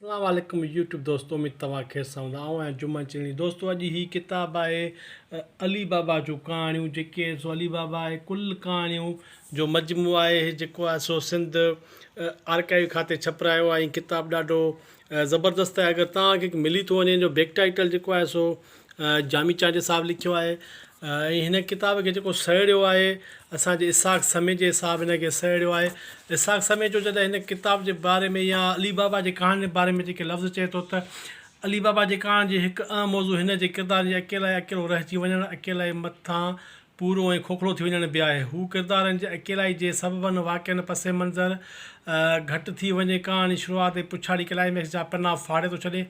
اسلام عليڪم يوٽيوب دوستو اميد توهان خير سان هوندا آئون آهيان جمعه چيڻي دوستو اڄ هي ڪتاب آهي علي بابا جون ڪهاڻيون جيڪي آهن سو علي بابا آهي ڪل ڪهاڻيون جو مجموعو آهي هي جيڪو آهي سو سنڌ آرڪائيو کاتي ڇپرايو آهي ڪتاب ڏاڍو زبردست آهي اگر تهان کي ملي ٿو وڃي جو بيڪ ٽائيٽل جيڪو آهي سو جامي چانڊيو صاحب لکيو آهي ۽ هن ڪتاب کي جيڪو سهيڙيو آهي اسان جي اسحاق سمي جي صاحب هن کي سهيڙيو آهي اسحاق سمي جو جڏهن هن ڪتاب جي باري ۾ يا علي بابا جي ڪهاڻين جي باري ۾ جيڪي لفظ چئي ٿو ته علي بابا جي ڪهاڻين جي هڪ اهم موضوع هن جي ڪردارن جي اڪيلائي اڪيلو رهجي وڃڻ اڪيلائي مٿان پورو ۽ کوکلو ٿي وڃڻ به آهي. هو ڪردارن جي اڪيلائي جي سببن، واقعن، پس منظر گهٽ ٿي وڃي ڪهاڻي شروعات ۽ پڇاڙي ڪلائيميڪس جا پنا ڦاڙي ٿو ڇڏي.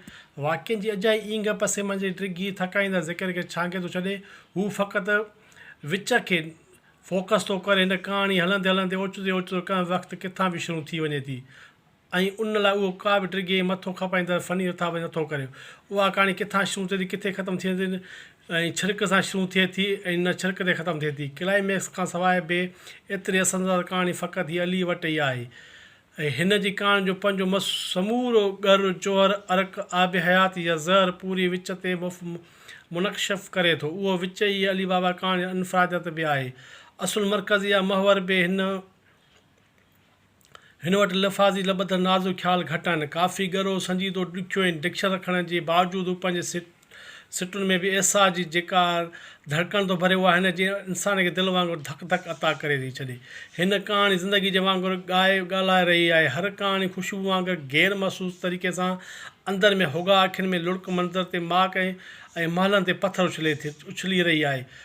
واقعن جي اجائي اينگهه پس منظر جي ڊگهي ٿڪائيندڙ ذڪر کي ڇانگي ٿو ڇڏي. هو فقط وچ کي فوڪس ٿو ڪري. هن ڪهاڻي هلندي هلندي اوچتو ئي اوچتو ڪنهن وقت ڪٿان به شروع ٿي وڃي ٿي. ۽ ان لاء اهو ڪا به ڊگهي ۽ مٿو کپائيندڙ فني رٿابندي نٿو ڪري. اها ڪهاڻي ڪٿان شروع ٿئي ٿي، ڪٿي ختم ٿئي ٿي ۽ ڇرڪ سان شروع ٿئي ٿي ۽ نه ڇرڪ تي ختم ٿئي ٿي. ڪلائيميڪس کان سواء به ايتري اثر انداز ڪهاڻي فقط هي عليء وٽ ئي آهي ۽ هن جي ڪهاڻين جو پنهنجو سمورو ڳر، جوهر، عرق، آب حيات يا زهر پوري وچ تي منڪشف ڪري ٿو. اهو وچ ئي علي بابا ڪهاڻي جي انفراديت به آهي. اصل مرڪز يا محور به هن هن وٽ لفاظي لٻڌ نازڪ خيال گهٽ آهن. ڪافي ڳرو، سنجيدو، ڏکيو ۽ ڊڪشن رکڻ جي باوجود هو پنهنجي سٽن ۾ به احساس جي جيڪا ڌڙڪڻ ٿو ڀري اها هن جي انسان کي دل وانگر ڌڪ ڌڪ عطا ڪري ٿي ڇڏي. هن ڪهاڻي زندگي جي وانگر ڳائي ڳالهائي رهي آهي. هر ڪهاڻي خوشبو وانگر غير محسوس طريقي سان اندر ۾ هوڳا اکين ۾ لڙڪ منظر تي ماڪ ۽ محلن تي پٿر اڇلي رهي آهي.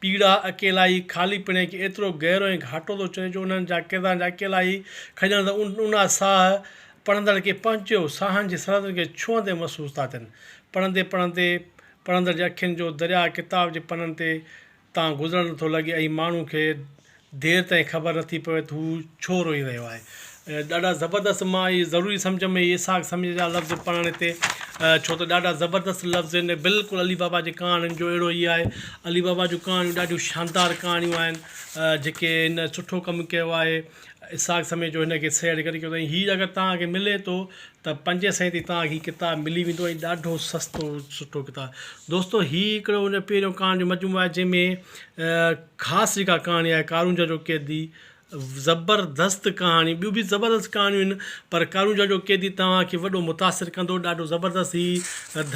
پيڙا، اڪيلائي، خالي پڻي کي ايترو گهرو ۽ گهاٽو ٿو چئي جو انهن جا ڪردارن جا اڪيلائي، کڄڻ ته اونها ساهه پڙهندڙ کي پنهنجو ساهن جي سرحدن کي ڇهندي محسوس ٿا ٿين. پڙهندي پڙهندي پڙهندڙ جي اکين جو درياهه ڪتاب جي پنن تي تان گذرڻ نٿو لڳي ۽ ماڻهو کي دير تائين خبر نٿي پوي ته هو ڇو روئي رهيو آهي. ڏاڍا زبردست مان اهي ضروري سمجهه ۾ اهي اسحاق سمجهه جا لفظ پڙهڻ هتي ڇو ته ڏاڍا زبردست لفظ آهن ۽ بلڪل علي بابا جي ڪهاڻين جو اهڙو ئي آهي علي بابا جون ڪهاڻيون ڏاڍيون شاندار ڪهاڻيون آهن جيڪي هن سٺو ڪم ڪيو آهي اسحاق سمجهه جو هن کي سيڙ ڪري ڪيو اٿائين هي اگر توهان کي ملي ٿو ته پنجين سئين تي توهان کي هي ڪتاب ملي ويندو ۽ ڏاڍو سستو سٺو ڪتاب دوستو هي هڪڙو ان پهريون ڪهاڻين جو مجموعو آهي جنهن ۾ خاص جيڪا ڪهاڻي آهي ڪارونجهر جو قيدي زبردست ڪهاڻي ٻيون به زبردست ڪهاڻيون آهن پر ڪارونجهر جو قيدي توهان کي وڏو متاثر ڪندو ڏاڍو زبردست هي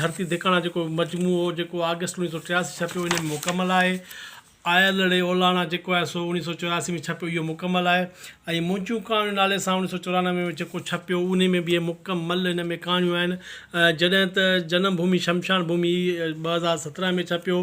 ڌرتي ڌڪاڻا جيڪو مجموعو جيڪو آگسٽ اوڻيهه سؤ ٽياسي ڇپيو ان ۾ مڪمل آهي آيلڙي اولاڻا جيڪو آهي سو اوڻيهه سؤ چورياسي ۾ ڇپيو اهو مڪمل آهي ۽ منهنجون ڪهاڻيون نالي سان اوڻيهه سؤ چورانوي ۾ جيڪو ڇپيو ان ۾ به مڪمل ان ۾ ڪهاڻيون آهن جڏهن ته جنم ڀومي شمشان ڀومي ٻه هزار سترهن ۾ ڇپيو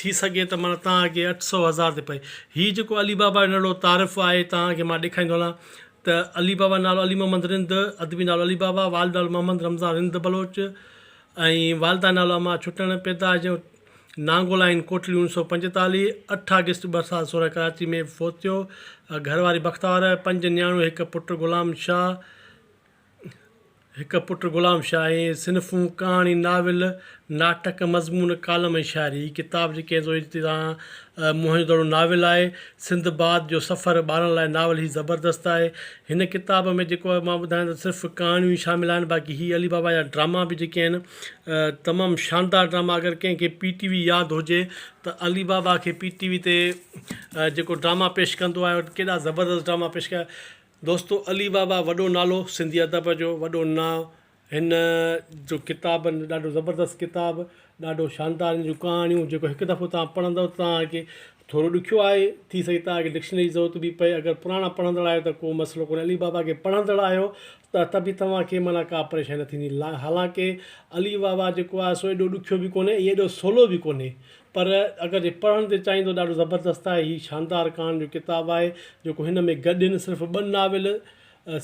ٿي سگهي ته معنيٰ توهان اڳي اٺ سؤ هزار تي پئي. هي جيڪو علي بابا جو نڙو تعارف آهي توهان کي مان ڏيکاريندو هلان ته علي بابا نالو علي محمد رند، ادبي نالو علي بابا، والد نالو محمد رمضان رند بلوچ ۽ والده نالو اما ڇٽڻ، پيدائش جون نانگو لائين ڪوٽڙي اڻ سؤ پنجيتاليهه، اٺ آگسٽ ٻه هزار سورهن ڪراچي ۾ فوت ٿيو، گهر واري بختاور، پنج نياڻيون هڪ پٽ غلام شاهه، هڪ پٽ غلام شاهه ۽ صنفون، ڪهاڻي، ناول، ناٽڪ، مضمون، ڪالم ۽ شاعري. هي ڪتاب جي ڪنهن زوئي جتي تان موهن جو دڙو ناول آهي. سنڌ باد جو سفر ٻارن لاء ناول هي زبردست آهي. هن ڪتاب ۾ جيڪو مان ٻڌايان ته صرف ڪهاڻيون ئي شامل آهن باقي هي علي بابا جا ڊراما به جيڪي آهن تمام شاندار ڊراما اگر ڪنهن کي پي ٽي وي ياد هجي ته علي بابا کي پي ٽي وي تي جيڪو ڊراما پيش ڪندو آهي ڪيڏا زبردست ڊراما پيش ڪيا دوستو علي بابا وڏو نالو سنڌي ادب جو وڏو نا هن جو ڪتاب ڏاڍو زبردست ڪتاب ڏاڍو شاندار هن جون ڪهاڻيون جيڪو هڪ دفعو تان پڙهندو تان کي ٿورو ڏکيو آهي ٿي سگهي تان کي ڊڪشنري جي ضرورت به پئي اگر پراڻا پڙهندڙ آهيو ته ڪو مسئلو ڪونهي علي بابا کي پڙهندڙ آهيو ته ته به توهان کي معنيٰ ڪا پريشاني نه ٿيندي حالانڪه علي بابا جيڪو آهي سو ايڏو ڏکيو به ڪونهي ۽ ايڏو سولو به ڪونهي پر اگر جي پڙهڻ تي چاهين ته ڏاڍو زبردست آهي هي شاندار ڪهاڻين جو ڪتاب آهي جيڪو هن ۾ گڏين صرف ٻه ناول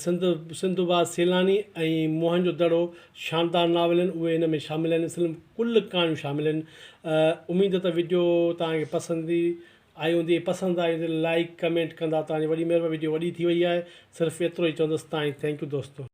سنڌ سنڌو باز سيلاني ۽ موهن جو دڙو شاندار ناول آهن اهي هن ۾ شامل آهن اصل ۾ ڪل ڪهاڻيون شامل آهن اميد ته وڊيو توهان کي پسند آئي هوندي پسند آئي هوندي لائڪ ڪمينٽ ڪندا توهان جي وڏي مهرباني وڊيو وڏي ٿي وئي آهي صرف ايترو ئي چوندس تائين ٿينڪ يو دوستو.